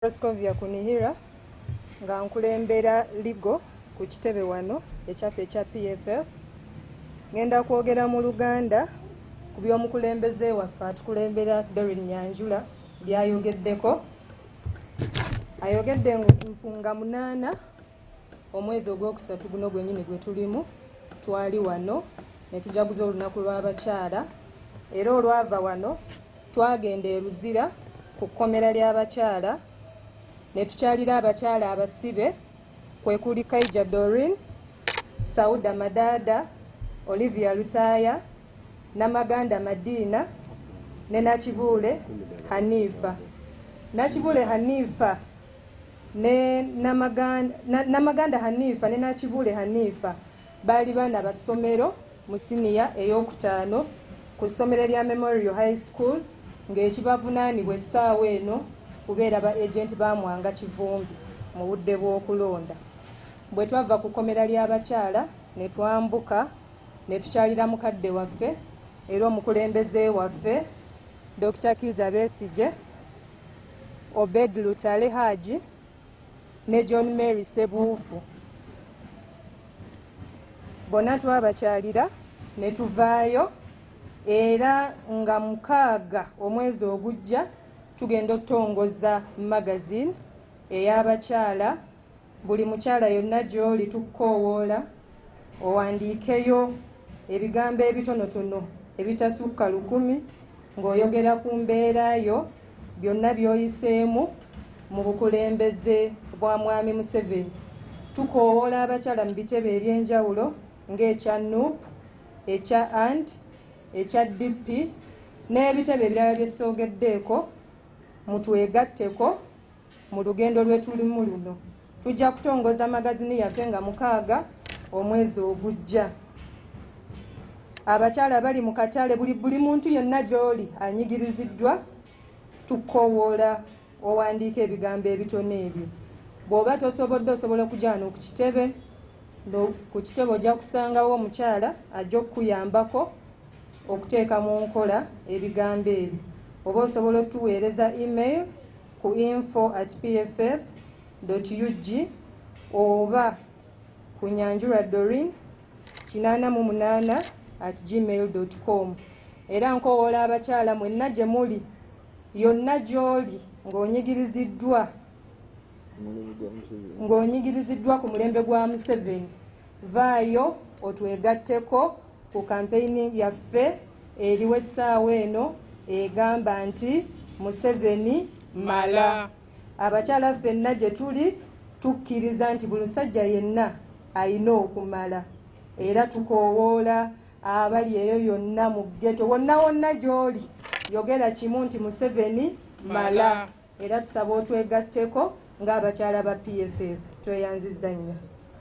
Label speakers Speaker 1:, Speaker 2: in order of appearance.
Speaker 1: Proscovia Kunihira nga nkulembera ligo ku kitebe wano ekyaffe ekya PFF ngenda kwogera mu Luganda ku by'omukulembeze waffe atukulembera Dorin Nyanjula byayogeddeko ayogedde nga munaana omwezi ogwokusatu guno gwenyini gwe tulimu twali wano ne tujaguza olunaku lw'abakyala era olwava wano twagenda e Luzira ku kkomera ly'abakyala ne tukyalira abakyala abasibe kwe kuli Kaija Dorin, Sauda Madada, Olivia Lutaaya, Namaganda Madiina ne Nakibuule Haniifa. Nakibuule Haniifa ne Namaganda Hanifa ne Nakibuule Hanifa baali baana ba ssomero mu siniya ey'okutaano ku ssomero lya Memorial High School ng'ekibavunaanibwa essaawa eno kubeera ba agenti ba Mwanga Kivumbi mu budde bw'okulonda. Bwe twava ku kkomera ly'abakyala ne twambuka ne tukyalira mukadde waffe era omukulembeze waffe Dokita Kiiza Besigye Obed Lutale Haji ne John Mary Sebuufu bonna twabakyalira ne tuvaayo era nga mukaaga omwezi ogujja tugenda okutongoza magazine eyabakyala buli mukyala yonna gy'oli tukukoowoola owandiikeyo ebigambo ebitonotono ebitasukka lukumi ng'oyogera ku mbeera yo byonna by'oyiseemu mu bukulembeze bwa mwami museveni tukoowoola abakyala mu bitebe eby'enjawulo ng'ekya nup ekya ant ekya dp n'ebitebe ebirala bye soogeddeeko mutwegatteko Mu lugendo lwetulimu luno tujja kutongoza magazini yaffe nga mukaaga omwezi ogujja. Abakyala bali mu katale buli buli muntu yenna gy'oli anyigiriziddwa tukowoola owandiika ebigambo ebitono ebyo bw'oba tosobodde osobola okujaana ku kitebe ku kitebe ojja kusangawo omukyala ajja okukuyambako okuteeka mu nkola ebigambo ebyo oba osobola otuweereza email ku info at pff ug oba ku nyanjura dorin 88 at gmail com era nkowoola abakyala mwenna gye muli yonna gy'oli ng'onyigiriziddwa ng'onyigiriziddwa ku mulembe gwa museveni Vaayo otwegatteko ku kampeyini yaffe eriwo essaawa eno egamba nti Museveni mala. Abakyala ffenna gye tuli tukkiriza nti buli musajja yenna alina okumala era tukoowoola abali eyo yonna mu ggeto wonna wonna gy'oli yogera kimu nti Museveni mala era tusaba otwegatteko ng'abakyala ba PFF tweyanzizza nnyo.